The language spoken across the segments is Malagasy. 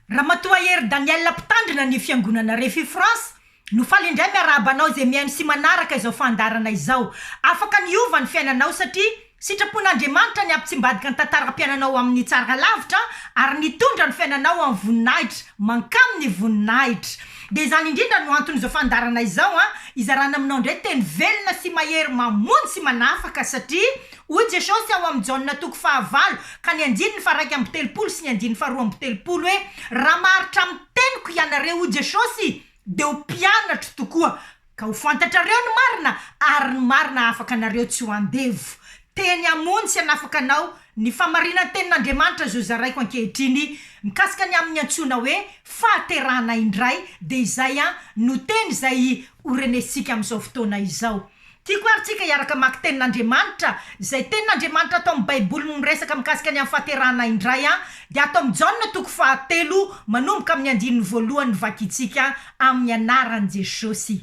Ramatoa Hery Danielle mpitandrina ny fiangonana Refi France no faly indray miarahaba anao izay mihaino sy manaraka izao fandaharana izao. Afaka ny hiova ny fiainanao satria sitrapon'Andriamanitra ny hampitsimbadika ny tantaram-piainanao ho amin'ny tsara lavitra ary ny hitondra ny fiainanao ho amin'ny voninahitra mankamin'ny voninahitra. Dia izany indrindra no anton'izao fandaharana izao an, hizarana aminao indray teny velona sy mahery mamonjy sy manafaka satria Hoy Jesosy ao amin'i Jaona toko fahavalo ka ny andininy faharaika amby telopolo sy ny andininy faharoa amby telopolo hoe, Raha maharitra amin'ny teniko ianareo, hoy Jesosy, dia ho mpianatro tokoa, ka ho fantatrareo ny marina, ary ny marina hahafaka anareo tsy ho andevo. Teny hamonjy sy hanafaka anao ny famarinan-tenin'Andriamanitra izao zaraiko ankehitriny mikasika ny amin'ny antsoina hoe fahaterahana indray, dia izay no teny izay horenesintsika amin'izao fotoana izao. Tiako ary tsika hiaraka hamaky tenin'Andriamanitra, izay tenin'Andriamanitra ato amin'ny Baiboly miresaka mikasika ny amin'ny fahaterahana indray an, dia ato amin'ny Jaona toko fahatelo manomboka amin'ny andininy voalohany no vakintsika amin'ny anaran'i Jesosy.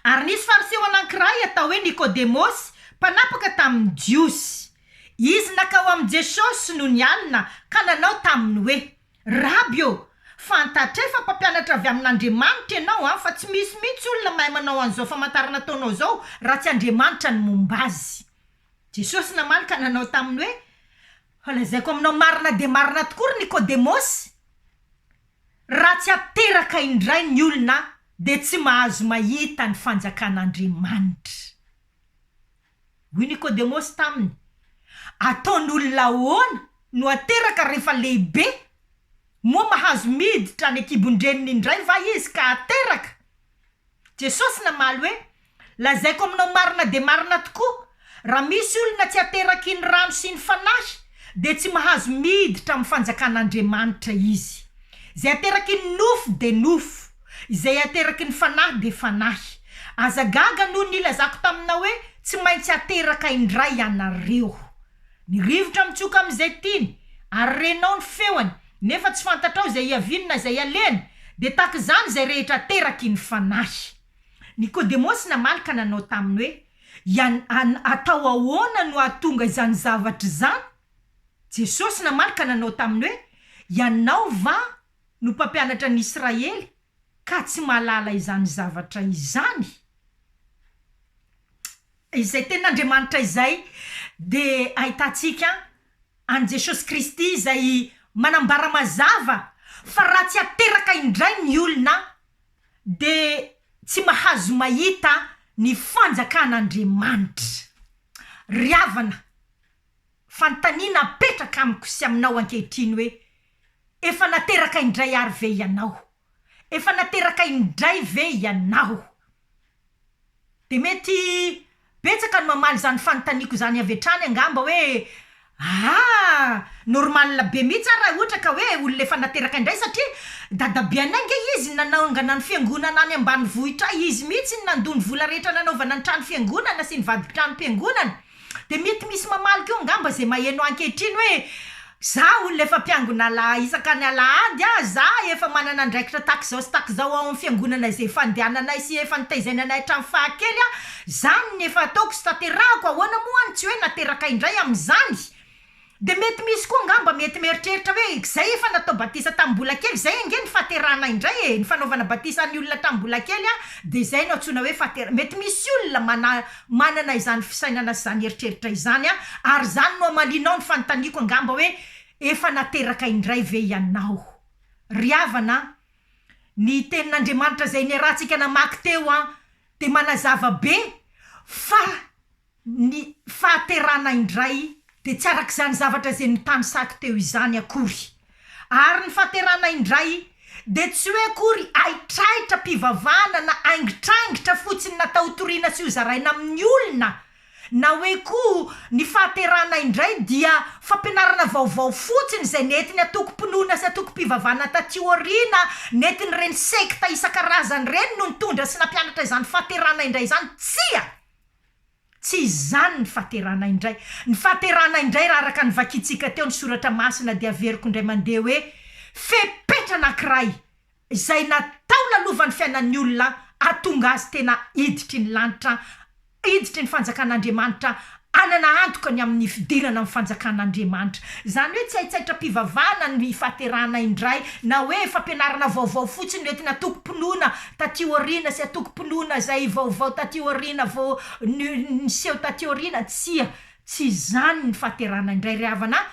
Ary nisy fariseo anankiray atao hoe Nikodemosy, mpanapaka tamin'ny Jiosy. Izy nankao amin'i Jesosy nony alina ka nanao taminy hoe. Raby ô! Fantatray fa mpampianatra avy amin'Andriamanitra ianao an, fa tsy misy mihitsy olona mahay manao an'izao famantarana ataonao izao raha tsy Andriamanitra ny momba azy. Jesosy namaly ka nanao taminy hoe, Fa lazaiko aminao marina dia marina tokoa ry Nikodemosy, raha tsy ateraka indray ny olona dia tsy mahazo mahita ny fanjakan'Andriamanitra. Hoy Nikodemosy taminy, Ataon'olona ahoana no hateraka rehefa lehibe? Moa mahazo miditra any an-kibon-dreniny indray va izy ka hateraka? Jesosy namaly hoe, Lazaiko aminao marina dia marina tokoa, raha misy olona tsy aterakin'ny rano sy ny Fanahy, dia tsy mahazo miditra amin'ny fanjakan'Andriamanitra izy. Izay aterakin'ny nofo dia nofo. Izay ateraky ny fanahy dia fanahy. Aza gaga noho ny nilazako taminao hoe, Tsy maintsy hateraka indray ianareo. Ny rivotra mitsoka amin'izay tiany, ary renao ny feony, nefa tsy fantatrao izay hiaviany na izay alehany, dia tahaka izany izay rehetra ateraky ny fanahy. Nikodemosy namaly ka nanao taminy hoe, Ian, an, atao ahoana no hahatonga izany zavatra izany? Jesosy namaly ka nanao taminy hoe, Ianao va no mpampianatra ny Israely ka tsy mahalala izany zavatra izany? Izay Tenin'Andriamanitra izay dia ahitantsika an'i Jesosy Kristy izay manambara mazava fa raha tsy ateraka indray ny olona dia tsy mahazo mahita ny fanjakan'Andriamanitra. Ry havana, fanontaniana apetraka amiko sy aminao ankehitriny hoe, Efa nateraka indray àry ve ianao? Efa nateraka indray ve ianao? Dia mety betsaka no mamaly izany fanontaniako izany avy hatrany angamba hoe aa normal be mihitsy ary raha ohatra ka hoe olona efa nateraka indray satria dadabe anay ange izy nanangana ny fiangonana any ambanivohitra izy mihitsy no nandoa ny vola rehetra nanaovana ny trano fiangonana sy ny vadin-tranom-piangonana Dia mety misy mamaly koa angamba izay maheno ahy ankehitriny hoe, za olona efa mpiangona ala- isaka ny alahady a, za efa manana andraikitra tahaka izao sy tahaka izao ao amin'ny fiangonana izay fandehananay sy efa nitaizaina anay hatramin'ny fahakely a, zany ny efa ataoko sy tanterahako, ahoana moa any tsy hoe nateraka indray amin'izany? De mety misy koa angamba mety mieritreritra hoe izay efa natao batisa tamin'ny mbola kely izay ange ny fahaterahana indray e, ny fanaovana batisa ny olona tamin'ny mbola kely an de izay no antsoina hoe fahatera-, mety misy olona mana manana izany fisainana sy izany eritreritra izany an, ary izany no hamalianao ny fanontaniako angamba hoe efa nateraka indray ve ianao? Ry havana an, ny tenin'Andriamanitra izay niarahantsika namaky teo an de manazava be fa Ny fahaterana indray dia tsy arak'izany zavatra izay notanisako teo izany akory. Ary ny fahaterana indray dia tsy hoe akory haitraitra am-pivavahana na haingitraingitra fotsiny natao hotoriana sy hozaraina amin'ny olona, na hoe koa ny fahaterana indray dia fampianarana vaovao fotsiny izay nentin'ny antokom-pinoana sy antokom-pivavahana taty aoriana, nentin'ireny sekta isan-karazany ireny no nitondra sy nampianatra izany fahaterana indray izany. Tsia! Tsy izany ny fahaterahana indray. Ny fahaterahana indray raha araka ny vakintsika teo ny soratra masina dia averiko indray mandeha hoe fepetra anankiray izay natao nalova ny fiainan'ny olona hahatonga azy tena hiditry ny lanitra hiditry ny fanjakan'Andriamanitra hanana antoka ny amin'ny fidirana amin'ny fanjakan'Andriamanitra. Izany hoe tsy haitsaitram-pivavahana ny fahaterahana indray na hoe fampianarana vaovao fotsiny hoentina antokom-pinoana taty aoriana sy antokom-pinoana izay vaovao taty aoriana vao niseho taty aoriana tsia tsy izany ny fahaterahana indray ry havana a!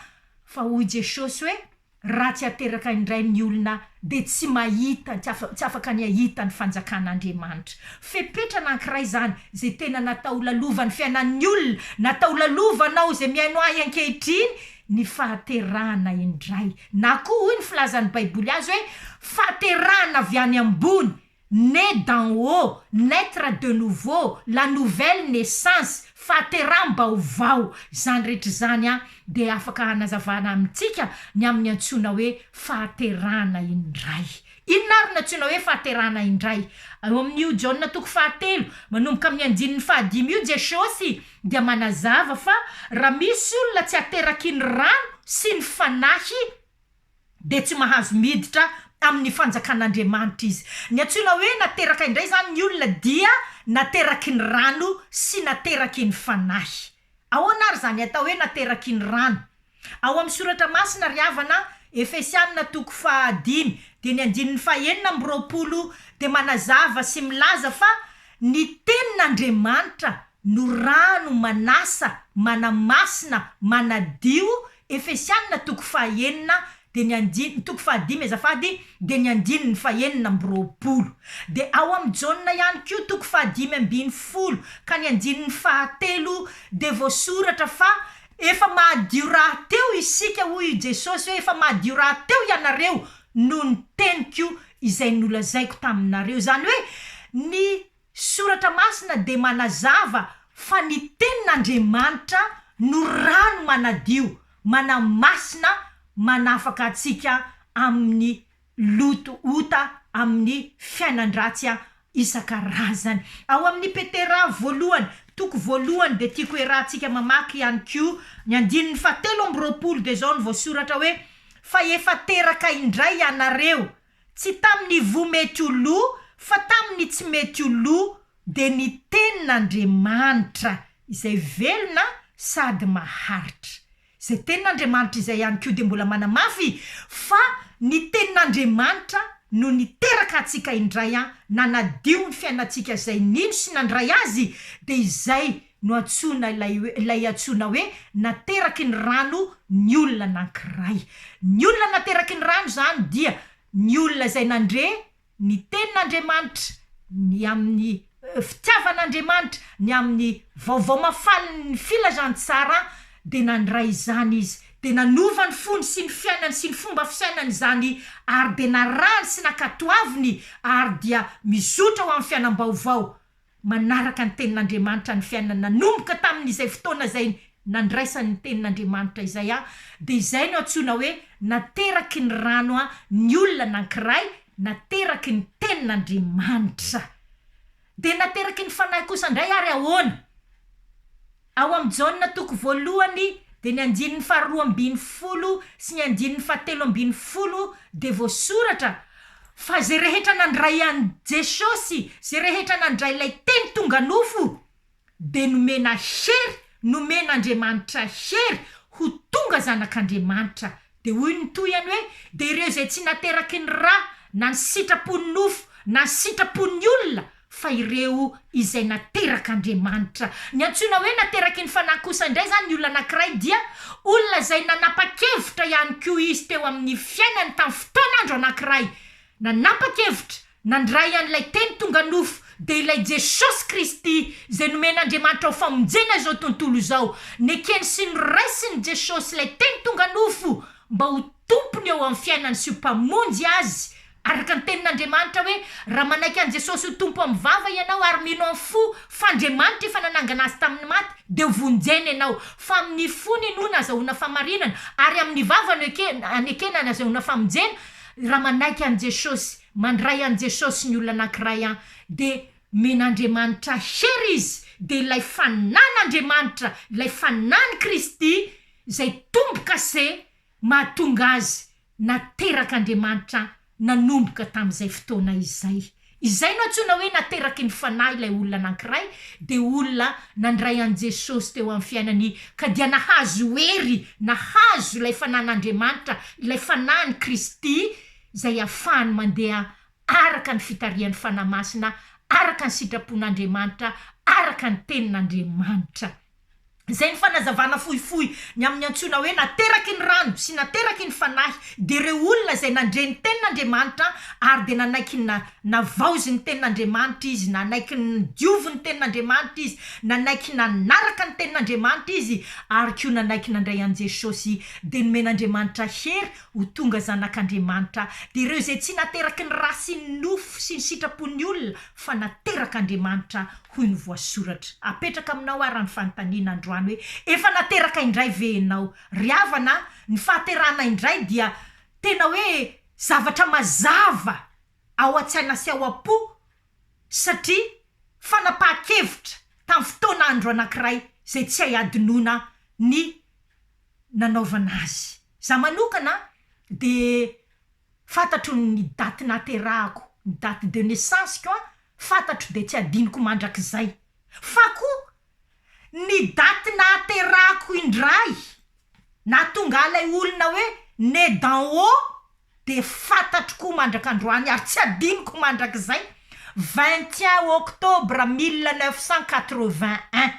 fa hoy Jesosy hoe raha tsy ateraka indray ny olona dia tsy mahita tsy afaka ny hahita ny fanjakan'Andriamanitra fepetra anankiray izany izay tena natao lalovan'ny fiainan'ny olona natao lalovanao izay mihaino ahy ankehitriny ny fahaterahana indray Na koa hoy ny filazan'ny Baiboly azy hoe fahaterahana avy any ambony, né d'en haut, naître de nouveau, la nouvelle naissance, fahateraham-baovao. Izany rehetra izany dia afaka hanazavana amintsika ny amin'ny antsoina hoe fahaterahana indray. Inona àry no antsoina hoe fahaterahana indray? Ao amin'io Jaona toko fahatelo, manomboka amin'ny andininy fahadimy io, Jesosy dia manazava fa raha misy olona tsy ateraky ny rano sy ny Fanahy, dia tsy mahazo miditra amin'ny fanjakan'Andriamanitra izy. Ny antsoina hoe nateraka indray izany ny olona dia nateraky ny rano sy nateraky ny Fanahy. Ahoana ary izany atao hoe nateraky ny rano? Ao amin'ny soratra masina ry havana, Efesianina toko faha dimy dia ny andininy faha enina amby roapolo dia manazava sy milaza fa ny tenin'Andriamanitra no rano manasa, manamasina, manadio Efesiana toko fahenina dia ny andininy toko fahadimy azafady dia ny andininy fahenina amby roapolo. Dia ao amin'ny Jaona ihany koa toko fahadimy ambin'ny folo ka ny andininy fahatelo dia voasoratra fa efa mahadio rahateo isika hoy i Jesosy hoe efa mahadio rahateo ianareo noho ny teniko izay nolazaiko taminareo. Izany hoe ny Soratra Masina dia manazava fa ny Tenin'Andriamanitra no rano manadio, manamasina, manafaka antsika amin'ny loto, ota, amin'ny fiainan-dratsy isan-karazany. Ao amin'ny Petera voalohany, toko voalohany, dia tiako hiarahantsika mamaky ihany koa ny andininy fahatelo amby roapolo, dia izao no voasoratra hoe, Fa efa teraka indray ianareo, Tsy tamin'ny ivoho mety ho lo, fa tamin'ny tsy mety ho lo, dia ny Tenin'Andriamanitra izay velona sady maharitra. Izay Tenin'Andriamanitra izay ihany koa dia mbola manamafy fa ny Tenin'Andriamanitra no niteraka antsika indray, nanadio ny fiainantsika, izay nino sy nandray Azy dia izay no antsoina ilay hoe, ilay antsoina hoe nateraky ny rano ny olona anankiray. Ny olona nateraky ny rano izany dia ny olona izay nandre ny tenin'Andriamanitra, ny amin'ny fitiavan'Andriamanitra, ny amin'ny vaovao mafanin'ny filazantsara, dia nandray izany izy, dia nanova ny fony sy ny fiainany sy ny fomba fisainany izany, ary dia narahany sy nankatoaviny, ary dia mizotra ho amin'ny fiainam-baovao. Manaraka ny Tenin'Andriamanitra ny fiainana nanomboka tamin'izay fotoana izay nandraisany ny Tenin'Andriamanitra izay aho, dia izay no antsoina hoe nateraky ny rano aho, ny olona anankiray nateraky ny Tenin'Andriamanitra. Dia nateraky ny Fanahy kosa indray ary ahoana? Ao amin'ny Jaona toko voalohany dia ny andininy faharoa ambin'ny folo sy ny andininy fahatelo ambin'ny folo dia voasoratra fa izay rehetra nandray an'i Jesosy, izay rehetra nandray ilay Teny tonga nofo dia nomena hery, nomen'Andriamanitra hery ho tonga zanak'Andriamanitra Dia hoy ny tohihany hoe, Dia ireo izay tsy nateraky ny ra na ny sitrapon'ny nofo na ny sitrapon'ny olona, fa ireo izay naterak'Andriamanitra. Ny antsoina hoe nateraky ny Fanahy kosa indray izany ny olona anankiray dia olona izay nanapa-kevitra ihany koa izy teo amin'ny fiainany tamin'ny fotoan'andro anankiray, nanapa-kevitra Nandray an'ilay teny tonga nofo dia ilay Jesosy Kristy izay nomen'Andriamanitra ho famonjena izao tontolo izao. Nekeny sy noraisin'i Jesosy ilay teny tonga nofo mba ho tompony eo amin'ny fiainany sy ho mpamonjy azy, araka ny tenin'Andriamanitra hoe, Raha manaiky an'i Jesosy ho Tompo amin'ny vava ianao ary mino amin'ny fo fa Andriamanitra efa nanangana azy tamin'ny maty dia ho vonjena ianao. Fa amin'ny fo ny inoana azahoana famarinana ary amin'ny vava no ekena anekena ny azahoana famonjena. Raha manaiky an'i Jesosy, mandray an'i Jesosy ny olona anankiray an, dia men'Andriamanitra hery izy, dia ilay fanan'Andriamanitra, ilay fanan'i Kristy izay tombo-kase mahatonga azy naterak'Andriamanitra nanomboka tamin'izay fotoana izay. Izay no antsoina hoe nateraky ny Fanahy ilay olona anankiray, dia olona nandray an'i Jesosy teo amin'ny fiainany ka dia nahazo hery, nahazo ilay Fanahin'Andriamanitra, ilay Fanahin'i Kristy izay ahafahany mandeha araka ny fitarihan'ny Fanahy Masina, araka ny sitrapon'Andriamanitra, araka ny Tenin'Andriamanitra. Izay ny fanazavana fohifohy ny amin'ny antsoina hoe nateraky ny rano sy nateraky ny fanahy dia ireo olona izay nandre ny tenin'Andriamanitra ary dia nanaiky ny navaozy ny tenin'Andriamanitra izy, nanaiky ny diovy ny tenin'Andriamanitra izy, nanaiky nanaraka ny tenin'Andriamanitra izy ary koa nanaiky nandray an'i Jesosy dia nomen'Andriamanitra hery ho tonga zanak'Andriamanitra dia ireo izay tsy nateraky ny ra sy ny nofo sy ny sitrapon'ny olona fa naterak'Andriamanitra hoy ny voasoratra. Apetraka aminao ara ny fanontaniana androany hoe, efa nateraka indray ve enao? Ry havana a, ny fahaterahana indray dia tena hoe zavatra mazava ao an-tsaina sy ao am-po satria fanapahan-kevitra tamin'ny fotoana andro anankiray izay tsy hay hadinoina ny nanaovana azy. Za manokana dia Fantatro ny daty naterahako, ny date de naissance-ko an, fantatro dia tsy adinoko mandrakizay. Fa koa ny daty nahaterahako indray nahatonga ilay olona hoe né d'en haut dia fantatro koa mandrak'androany ary tsy adinoko mandrakizay, vingt et un octobre mille neuf cent quatre-vingt un.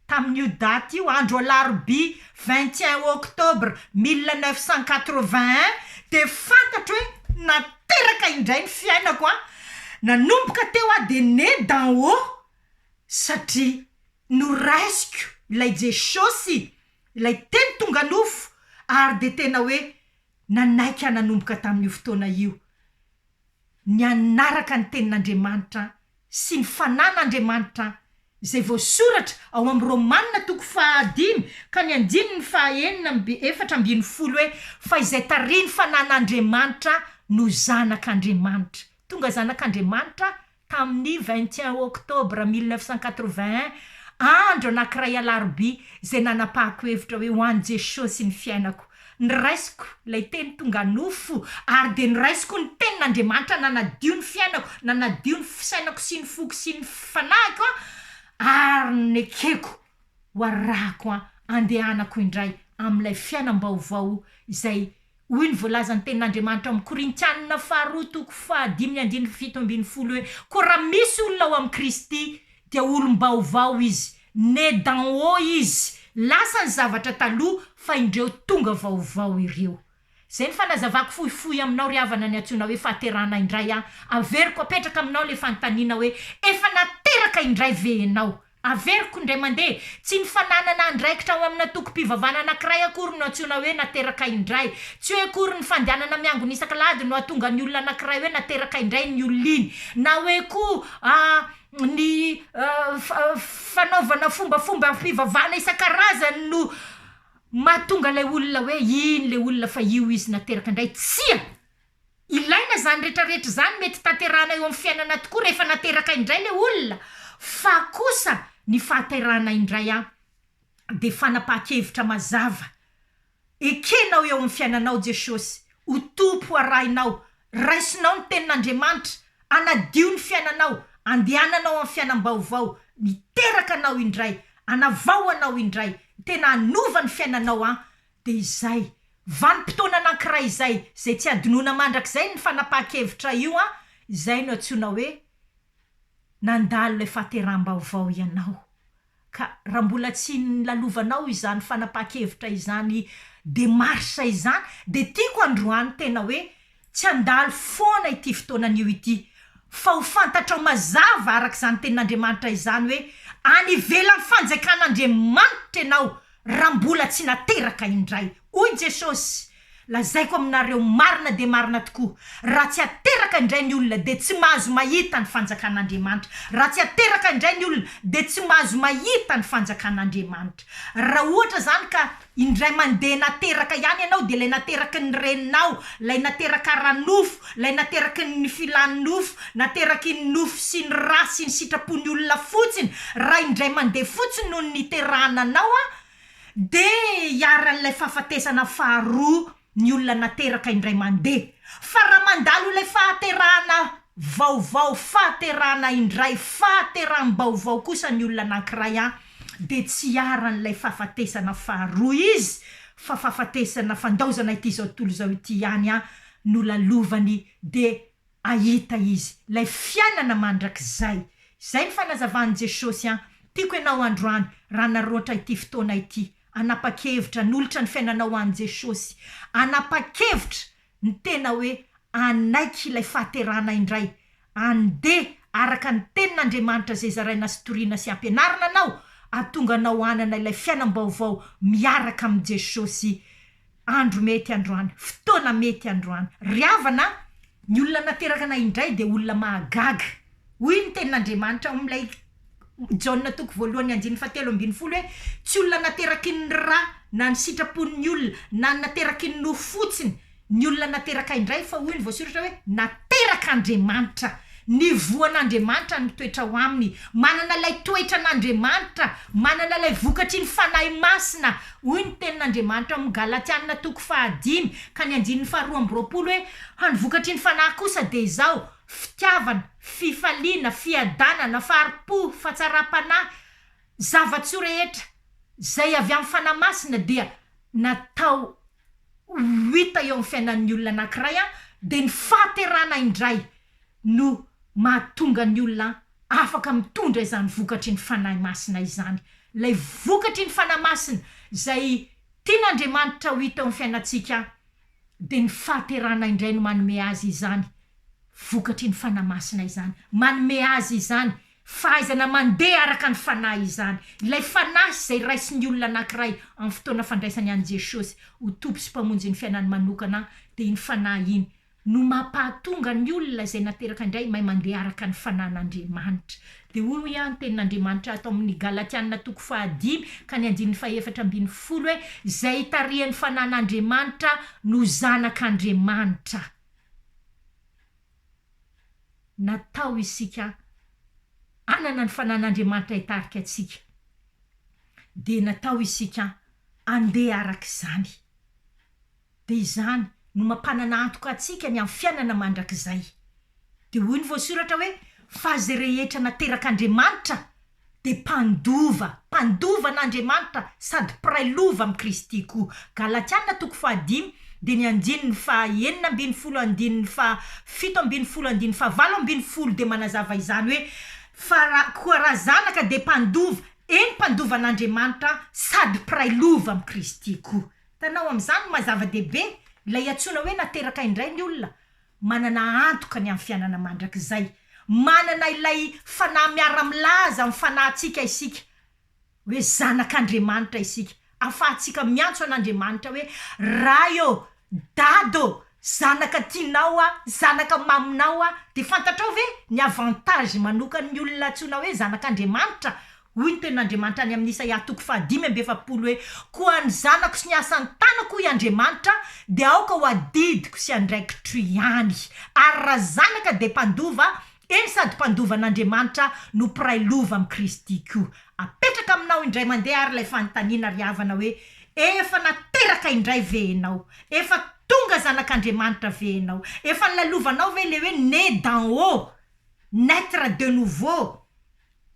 Tamin'io daty io, andro alarobia vingt et un octobre mille neuf cent quatre-vingt un, dia fantatro hoe nateraka indray ny fiainako an! Nanomboka teo aho dia née d'en haut satria noraisiko ilay jesosy, ilay teny tonga nofo ary dia tena hoe nanaiky ahy nanomboka tamin'io fotoana io ny hanaraka ny tenin'Andriamanitra sy ny fanan'Andriamanitra izay voasoratra ao amin'ny Romana toko fahadimy ka ny andininy fahaenina amby efatra ambin'ny folo hoe, Fa izay tarihin'ny fanan'Andriamanitra no zanak'Andriamanitra. Tonga zanak'Andriamanitra tamin'ny vingt et un octobre mille neuf cent quatre-vingt un, andro anankiray alarobia, izay nanapahako hevitra hoe ho an'i Jesosy ny fiainako. Noraisiko ilay teny tonga nofo ary dia noraisiko ny tenin'Andriamanitra nanadio ny fiainako, nanadio ny fisainako sy ny foko sy ny fanahiko an, ary nekeko ho arahako an, andehanako indray amin'ilay fiainam-baovao izay hoy ny voalazan'ny tenin'Andriamanitra ao amin'ny Korintianina faharoa toko fahadimy andininy fito ambin'ny folo hoe, koa raha misy olona ao amin'i Kristy dia olom-baovao izy, Né d'en haut izy, lasa ny zavatra taloha fa indreo tonga vaovao ireo. Zay ny fanazavako fohifohy aminao ry havana ny antsoina hoe fahaterahana indray an, averiko apetraka aminao le fanontaniana hoe efa nateraka indray ve enao? Averiko indray mandeha, tsy ny fananana andraikitra ao amina tokim-pivavahana anakiray akory no antsoina hoe nateraka indray, tsy hoe akory ny fandehanana miangona isak'alahady no ahatonga ny olona anakiray hoe nateraka indray ny olona iny, na hoe koa ny fanaovana fombafomba fivavahana isan-karazany no mahatonga ilay olona hoe iny le olona fa io izy nateraka indray tsia ilaina zany retraretra zany mety tanterahana eo amin'ny fiainana tokoa rehefa nateraka indray le olona fa kosa ny fahaterahana indray an de fanapahan-kevitra mazava Ekenao eo amin'ny fiainanao Jesosy ho Tompo arahinao, raisinao ny tenin'Andriamanitra, anadio ny fiainanao, andehananao amin'ny fiainam-baovao, miteraka anao indray, anavao anao indray, tena hanova ny fiainanao an! dia izay, vanim-potoana anankiray izay, izay tsy hadinoina mandrakizay ny fanapahan-kevitra io an! izay no antsoina hoe nandalo ilay fahateraham-baovao ianao. Ka raha mbola tsy nilalovanao izany fanapahan-kevitra izany démarche izany dia tiako androany tena hoe tsy handalo foana ity fotoana anio ity fa ho fantatrao mazava araka izany tenin'Andriamanitra izany hoe any ivelan'ny fanjakan'Andriamanitra ianao raha mbola tsy nateraka indray hoy Jesosy Lazaiko aminareo marina dia marina tokoa, raha tsy ateraka indray ny olona, dia tsy mahazo mahita ny fanjakan'Andriamanitra. Raha tsy ateraka indray ny olona, dia tsy mahazo mahita ny fanjakan'Andriamanitra. Raha ohatra izany ka indray mandeha nateraka ihany ianao, dia ilay nateraky ny reninao, ilay nateraka ara-nofo, ilay nateraky ny filan'ny nofo, nateraky ny nofo sy ny ra sy ny sitrapon'ny olona fotsiny, raha indray mandeha fotsiny no niterahana anao, dia iharan'ilay fahafatesana faharoa ny olona nateraka indray mandeha. Fa raha mandalo ilay fahaterahana vaovao, fahaterahana indray, fahateraham-baovao kosa ny olona anankiray an, dia tsy iharan'ilay fahafatesana faharoa izy fa fahafatesana fandaozana ity izao tontolo izao ity ihany an no lalovany dia Hahita izy, ilay fiainana mandrakizay. Izay ny fanazavan'i Jesosy an! Tiako ianao androany, raha naroatra ity fotoana ity, hanapa-kevitra hanolotra ny fiainanao ho an'i Jesosy. Hanapa-kevitra ny tena hoe hanaiky ilay fahaterahana indray. Handeha araka ny Tenin'Andriamanitra izay zaraina sy toriana sy ampianarina anao, hahatonga anao hanana ilay fiainam-baovao miaraka amin'i Jesosy. Andro mety androany, fotoana mety androany. Ry havana a! Ny olona nateraka anay indray dia olona mahagaga. Hoy ny Tenin'Andriamanitra ao amin'ilay Jaona toko voalohany andininy fahatelo ambin'ny folo hoe, Tsy olona nateraky ny ra na ny sitrapon'ny olona na ny nateraky ny nofo fotsiny ny olona nateraka indray, fa hoy ny voasoratra hoe, Naterak'Andriamanitra. Ny voan'Andriamanitra no mitoetra ao aminy. Manana ilay toetra an'Andriamanitra. Manana ilay vokatry ny Fanahy Masina. Hoy ny Tenin'Andriamanitra ao amin'ny Galatiana toko fahadimy ka ny andininy faharoa amby roapolo hoe, Fa ny vokatry ny Fanahy kosa dia izao, fitiavana, fifaliana, fiadanana, fahari-po, fahatsaram-panahy. Zava-tsoa rehetra izay avy amin'ny Fanahy Masina dia natao ho hita eo amin'ny fiainan'ny olona anankiray an, dia ny fahaterana indray no mahatonga ny olona afaka mitondra izany vokatry ny Fanahy Masina izany. Ilay vokatry ny Fanahy Masina izay tian'Andriamanitra ho hita eo amin'ny fiainantsika dia ny fahaterana indray no manome azy izany, vokatry ny Fanahy Masina izany. Manome azy izany Fahaizana mandeha araka ny Fanahy izany, ilay Fanahy izay raisin'ny olona anankiray amin'ny fotoana fandraisany an'i Jesosy ho Tompo sy Mpamonjin'ny fiainany manokana, dia iny Fanahy iny no mampahatonga ny olona izay nateraka indray mahay mandeha araka ny Fanahin'Andriamanitra. Dia hoy hoy aho ny tenin'Andriamanitra ato amin'ny Galatiana toko fahadimy ka ny andininy fahefatra ambin'ny folo hoe, Izay itarihan'ny Fanahin'Andriamanitra no zanak'Andriamanitra. natao isika hanana ny fanan'Andriamanitra hitarika antsika, dia natao isika handeha araka izany. Dia izany no mampanana antoka antsika ny amin'ny fiainana mandrakizay. Dia hoy ny voasoratra hoe, Fa izay rehetra naterak'Andriamanitra dia mpandova, mpandova an'Andriamanitra sady mpiray lova amin'i Kristy koa. Galatiana toko fahadimy dia ny andininy faha enina ambin'ny folo andininy faha fito ambin'ny folo andininy faha valo ambin'ny folo dia manazava izany hoe, fa ra, koa raha zanaka dia mpandova, eny mpandova an'Andriamanitra sady mpiray lova amin'i Kristy koa. Hitanao amin'izany ny maha zava-dehibe ilay iantsoana hoe nateraka indray ny olona. Manana antoka ny amin'ny fiainana mandrakizay. Manana ilay fanahy miara-milaza amin'ny fanahintsika isika hoe zanak'Andriamanitra isika. Ahafahantsika miantso an'Andriamanitra hoe, Ray ô! Dada ô! Zanaka tianao aho, zanaka maminao aho. Dia fantatrao ve ny avantage manokan'ny olona antsoina hoe zanak'Andriamanitra? Hoy ny tenin'Andriamanitra any amin'ny Isaia toko fahadimy amby efapolo hoe, Koa ny zanako sy ny asan'ny tanako, hoy Andriamanitra, dia aoka ho adidiko sy andraikitro ihany. Ary raha zanaka dia mpandova, eny sady mpandovan'Andriamanitra no mpiray lova amin'i Kristy koa. Apetraka aminao indray mandeha ary ilay fanontaniana ry havana hoe, Efa nateraka indray ve ianao? Efa tonga zanak'Andriamanitra ve ianao? Efa nolalovanao ve ilay hoe né d'en haut, naître de nouveau?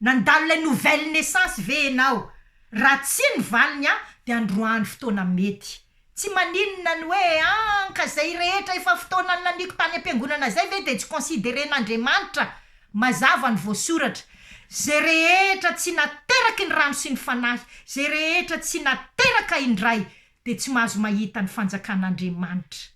Nandalo ilay nouvelle naissance ve enao? Raha tsia ny valiny an de androany fotoana mety. Tsy maninona ny hoe an ka zay rehetra efa fotoana nilaniako tany ampiangonana zay ve de tsy consideren'Andriamanitra? Mazava ny voasoratra. Zay rehetra tsy nateraky ny rano sy ny fanahy, zay rehetra tsy nateraka indray de tsy mahazo mahita ny fanjakan'Andriamanitra.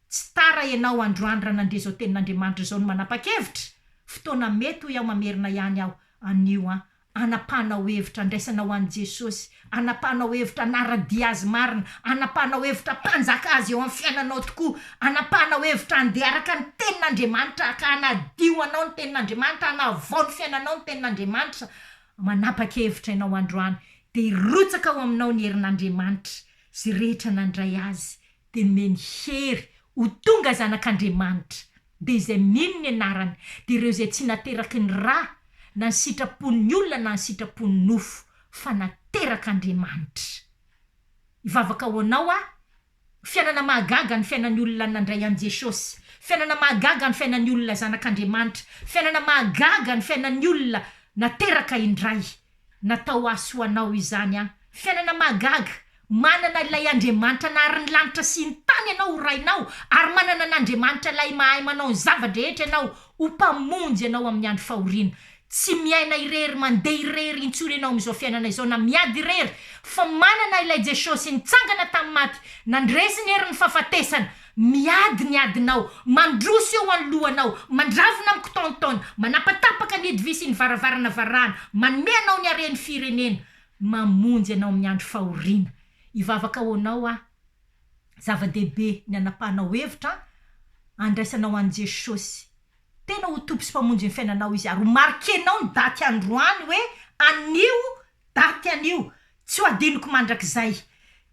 Tsy tara ianao androany raha nandre izao tenin'Andriamanitra izao no manapa-kevitra, fotoana mety hoy aho mamerina ihany aho anio an, anapahanao hevitra andraisana ho an'i Jesosy, anapahanao hevitra hanara-dia Azy marina, anapahanao hevitra hampanjaka Azy eo amin'ny fiainanao tokoa, anapahanao hevitra handeha araka ny tenin'Andriamanitra ka hanadio anao ny tenin'Andriamanitra, hanavao ny fiainanao ny tenin'Andriamanitra, manapa-kevitra ianao androany dia hirotsaka ao aminao ny herin'Andriamanitra, izay rehetra nandray Azy dia nomeny hery ho tonga zanak'Andriamanitra, dia izay mino ny anarany, dia ireo izay tsy nateraky ny ra, na ny sitrapon'ny olona na ny sitrapon'ny nofo, fa naterak'Andriamanitra. Hivavaka ho anao aho, fiainana mahagaga ny fiainan'ny olona nandray an'i Jesosy, fiainana mahagaga ny fiainan'ny olona zanak'Andriamanitra, fiainana mahagaga ny fiainan'ny olona nateraka indray, Natao ahy sy ho anao izany an. Fiainana mahagaga, manana ilay Andriamanitra nahary ny lanitra sy ny tany ianao ho rainao ary manana an'Andriamanitra ilay mahay manao ny zava-drehetra ianao ho mpamonjy ianao amin'ny andro fahoriana. Tsy miaina irery, mandeha irery intsony ianao amin'izao fiainana izao na miady irery fa manana ilay Jesosy nitsangana tamin'ny maty, nandresy ny herin'ny fahafatesana, Miady ny adinao, mandroso eo anoloanao, mandravona mikotaontaona, manapatapaka ny hodi-vy sy ny varavarana varahana, manome anao ny haren'ny firenena, mamonjy anao amin'ny andro fahoriana. Hivavaka ho anao aho. Zava-dehibe ny anapahanao hevitra handraisanao an'i Jesosy. Tena ho Tompo sy Mpamonjy ny fiainanao Izy, ary ho marquer-nao ny daty androany hoe anio daty anio, tsy ho adinoko mandrakizay.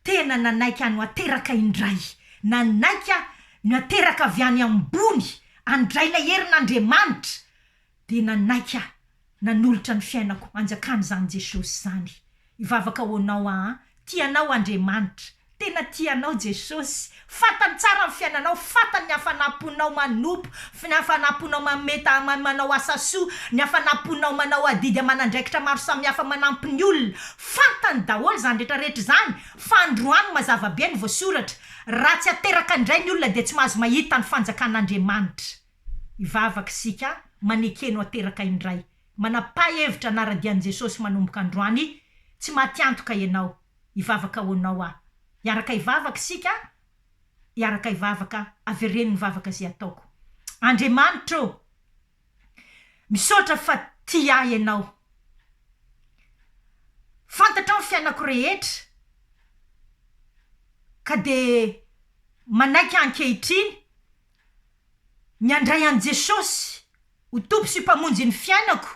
Tena nanaiky aho no ateraka indray, nanaiky aho no ateraka avy any ambony handray ilay herin'Andriamanitra, dia nanaiky aho Nanolotra ny fiainako hanjakana izany Jesosy izany. Hivavaka ho anao aho an. Tia anao Andriamanitra. Tena tia anao Jesosy. Fantany tsara ny fiainanao. Fantany ny hafanam-ponao manompo, ny hafanam-ponao manome ta, manao asa soa, ny hafanam-ponao manao adidy aman'andraikitra maro samihafa manampy ny olona. Fantany daholo izany rehetra rehetra izany. Fa androany mazava be ny voasoratra. Raha tsy ateraka indray ny olona dia tsy mahazo mahita ny fanjakan'Andriamanitra. Hivavaka isika, manekeno ateraka indray. Manapaha hevitra hanara-dian'i Jesosy manomboka androany, tsy matiantoka ianao. Hivavaka ho anao aho. Hiaraka hivavaka isika, hiaraka hivavaka, avereno ny vavaka izay ataoko. Andriamanitra ô! Misaotra fa tia ahy ianao. Fantatrao ny fiainako rehetra, ka dia manaiky ahy ankehitriny. ny handray an'i Jesosy ho Tompo sy Mpamonjin'ny fiainako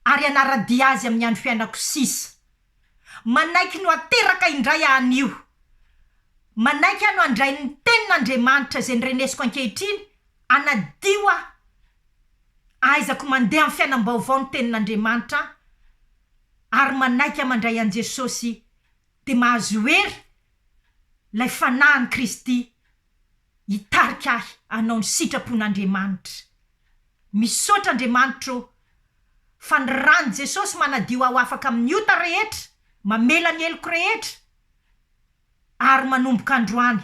ary hanara-dia Azy amin'ny andro fiainako sisa. Manaiky ny ho ateraka indray aho anio. Manaiky aho ny handray ny Tenin'Andriamanitra izay norenesiko ankehitriny hanadio aho. Ahaizako mandeha amin'ny fiainam-baovao ny Tenin'Andriamanitra ary manaiky aho mandray an'i Jesosy dia mahazo hery ilay Fanahin'i Kristy. hitarika ahy hanao ny sitrapon'Andriamanitra. Misaotra Andriamanitra ô fa ny ran'i Jesosy manadio aho afaka amin'ny ota rehetra, mamela ny heloko rehetra ary manomboka androany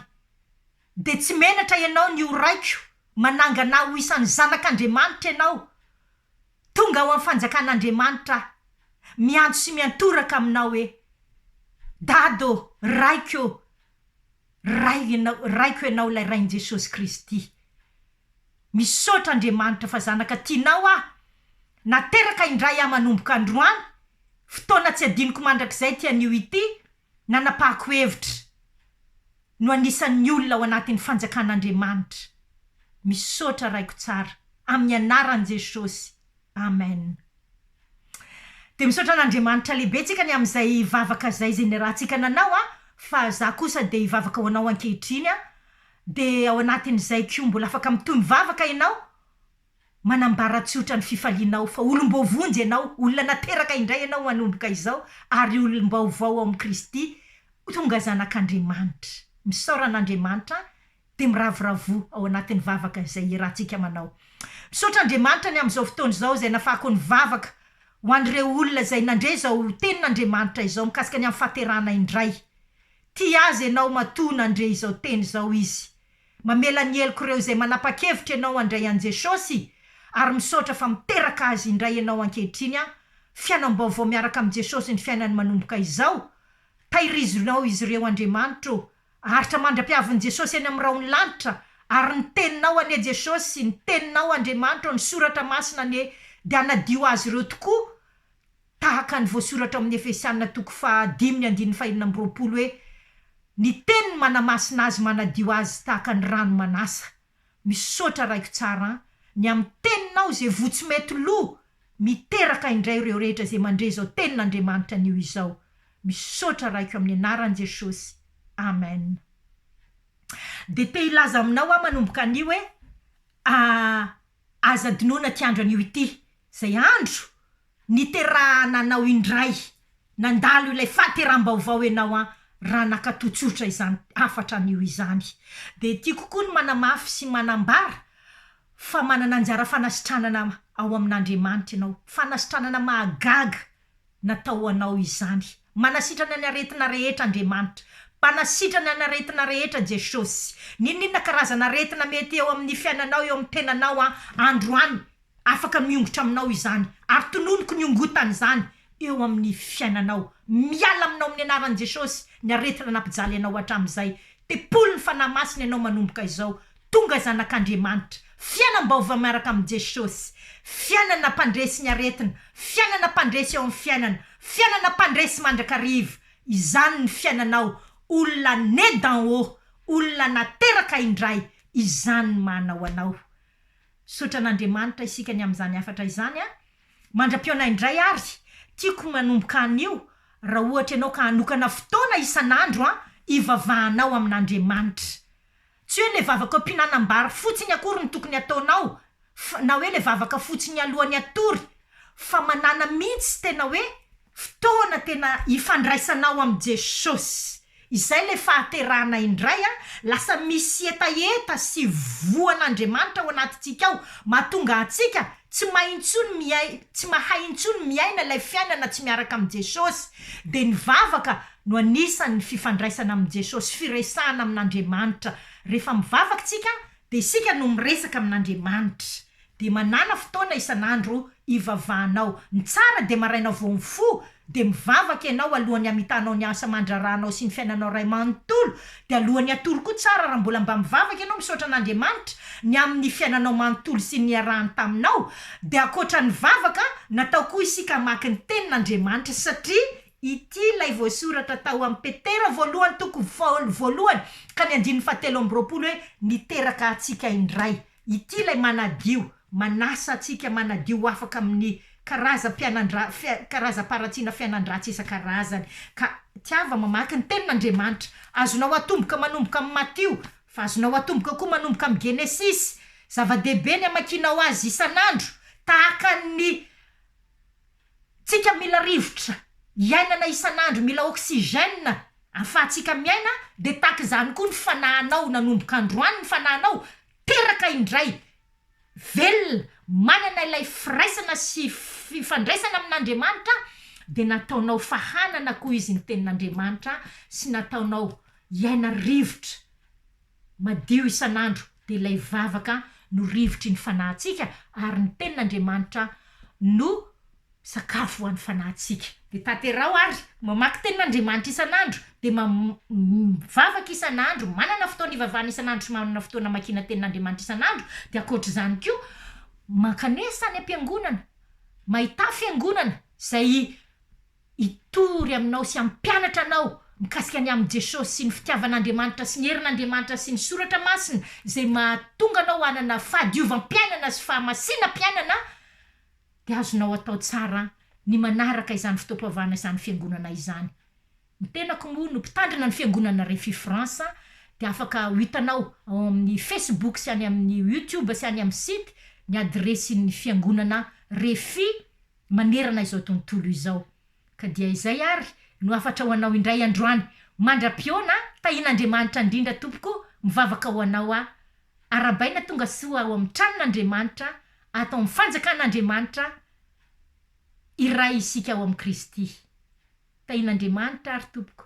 dia tsy menatra ianao ny ho raiko manangana ahy ho isan'ny zanak'Andriamanitra ianao tonga ao amin'ny fanjakan'Andriamanitra aho miantso sy miantoraka aminao hoe Dada ô! Raiko ô! Ray ianao, Raiko ianao ilay Rain'i Jesosy Kristy. Misaotra Andriamanitra fa zanaka tianao aho. Nateraka indray aho manomboka androany, fotoana tsy adinoko mandrakizay ity anio ity, nanapahako hevitra no anisan'ny olona ao anatin'ny fanjakan'Andriamanitra. Misaotra Raiko tsara, amin'ny anaran'i Jesosy, Amen. Dia misaotra an'Andriamanitra lehibe tsika ny amin'izay vavaka zay zay niarahantsika nanao a, fa za kosa dia hivavaka ho anao ankehitriny a, de ao anatin'izay ko mbola afaka mitohy mivavaka ianao, manambara tsotra ny fifalianao fa olom-boavonjy ianao, olona nateraka indray ianao manomboka izao ary olom-baovao ao amin'i Kristy, tonga zanak'Andriamanitra. Misaora an'Andriamanitra dia miravoravoa ao anatin'ny vavaka izay hiarahantsika manao. Misaotra Andriamanitra ny amin'izao fotoana izao izay nafahako ny vavaka ho an'ireo olona izay nandre izao tenin'Andriamanitra izao mikasika ny amin'ny fahaterahana indray. Tia azy ianao matoa nandre izao teny izao izy. Mamela ny heloko ireo izay manapa-kevitra ianao handray an'i Jesosy ary misaotra fa miteraka azy indray ianao ankehitriny an! Fiainam-baovao miaraka amin'i Jesosy ny fiainany manomboka izao. Tahirizonao izy ireo Andriamanitra ô! Aritra mandra-piavin'i Jesosy eny amin'ny rahon'ny lanitra, ary ny Teninao anie Jesosy, ny Teninao Andriamanitra, ny Soratra Masina anie dia hanadio azy ireo tokoa, tahaka ny voasoratra ao amin'ny Efesiana toko faha dimy ny andininy faha enina amby roapolo hoe, Ny Teniny manamasina azy manadio azy tahaka ny rano manasa. Misaotra raiko tsara an! Ny am teninao ze voa tsy mety lo miteraka indray reo rehetra ze mandre zao tenin Andriamanitra anio izao. Misaotra raiko amin anaran Jesosy. Amen. Dia te hilaza aminao aho manomboka anio hoe, ah Aza adinoina ity andro anio ity, izay andro niterahana anao indray, nandalo ilay fahateram-baovao ianao an, raha nakato tsotra izany hafatra anio izany. Dia tiako koa ny manamafy sy manambara fa manana anjara fanasitranana ao amin'Andriamanitra ianao, fanasitranana mahagaga Natao ho anao izany. Manasitrana ny aretina rehetra Andriamanitra. Mpanasitrana ny aretina rehetra Jesosy. N'inon'inona karazana aretina mety eo amin'ny fiainanao, eo amin'ny tenanao an, androany, afaka miongotra aminao izany. Ary tononiko ny hongotany izany eo amin'ny fiainanao. Miala aminao amin'ny anaran'i Jesosy ny aretina nampijaly anao hatramin'izay. Tempolin'ny Fanahy Masina ianao manomboka izao. Tonga zanak'Andriamanitra. Fiainam-baovao miaraka amin'i Jesosy. Fiainana mpandresy ny aretina. Fiainana mpandresy eo amin'ny fiainana. Fiainana mpandresy mandrakariva. Izany ny fiainanao. Olona né d'en haut. Olona nateraka indray. Izany ny maha anao anao. Misaotra an'Andriamanitra isika ny amin'izany hafatra izany an. Mandra-pihaona indray ary. Tiako manomboka anio. Raha ohatra ianao ka hanokana fotoana isan'andro an, hivavahanao amin'Andriamanitra. Tsy hoe le vavaka am-pihinanam-bary fotsiny akory no tokony ataonao fa na hoe le vavaka fotsiny alohan'ny hatory fa manana mintsy tena hoe fotoana tena ifandraisanao amin'i Jesosy. Izay le fahaterahana indray a! Lasa misy hetaheta sy voan'Andriamanitra ao anatintsika ao mahatonga antsika tsy mahay intsony miai- tsy mahay intsony miaina ilay fiainana tsy miaraka amin'i Jesosy. Dia ny vavaka no anisan' ny fifandraisana amin' i Jesosy, firesahana amin' Andriamanitra. Rehefa mivavaka isika, dia isika no miresaka amin' Andriamanitra. Dia manàna fotoana isan' andro hivavahanao. Ny tsara dia maraina vao mifoha, dia mivavaka ianao alohan' ny hamitanao ny asa aman-draharahanao sy ny fiainanao iray manontolo. Dia alohan' ny hatory koa, tsara raha mbola mba mivavaka ianao misaotra an' Andriamanitra ny amin' ny fiainanao manontolo sy ny niarahany taminao. Dia ankoatra ny vavaka, natao koa isika hamaky ny Tenin' Andriamanitra, satria Ity ilay voasoratra tao amin'ny Petera voalohany toko fahaolo voalohany ka ny andininy fahatelo amby roapolo hoe, Niteraka antsika indray. Ity ilay manadio, manasa antsika manadio ho afaka amin'ny karazam-pianandra, fia, karazam-paharatsiana fiainan-dratsy isan-karazany. Ka tiava mamaky ny Tenin'Andriamanitra. Azonao atomboka manomboka amin'ny Matio, fa azonao atomboka koa manomboka amin'ny Genesisy. Zava-dehibe ny hamakianao azy isan'andro, tahaka ny Tsika mila rivotra iainana isan'andro mila oxygène afahatsika miaina de tahaka izany koa ny fanahanao nanomboka androany ny fanahanao teraka indray velona manana ilay firaisana sy fifandraisana amin'Andriamanitra de nataonao fahanana koa izy ny tenin'Andriamanitra sy nataonao iaina rivotra Madio isan'andro, dia ilay vavaka no rivotry ny fanahintsika, ary ny Tenin'Andriamanitra no sakafo ho an'ny fanahintsika. Dia tanteraho ary mamaky Tenin'Andriamanitra isan'andro, dia mam mivavaka isan'andro, manana fotoana ivavahana isan'andro sy manana fotoana amakiana Tenin'Andriamanitra isan'andro, dia ankoatra izany koa mankanesa any am-piangonana, mahita fiangonana izay hitory aminao sy hampianatra anao mikasika ny amin'i Jesosy sy ny fitiavan'Andriamanitra sy ny herin'Andriamanitra sy ny Soratra Masina izay mahatonga anao hanana fahadiovam-piainana sy fahamasinam-piainana dia azonao atao tsara ny manaraka izany fotoam-pivavahana izany fiangonana izany. Ny tenako moa no mpitandrina ny fiangonana Refi France dia afaka ho hitanao ao amin'ny Facebook sy any amin'ny YouTube sy any amin'ny site ny adiresin'ny fiangonana Refi manerana izao tontolo izao. Ka dia izay ary no hafatra ho anao indray androany. Mandra-pihaona, tahian'Andriamanitra indrindra tompoko o, mivavaka ho anao aho. Arahabaina tonga soa ao amin'ny tranon'Andriamanitra, ato amin'ny fanjakan'Andriamanitra, iray isika ao amin'i Kristy. Tahian'Andriamanitra ary tompoko.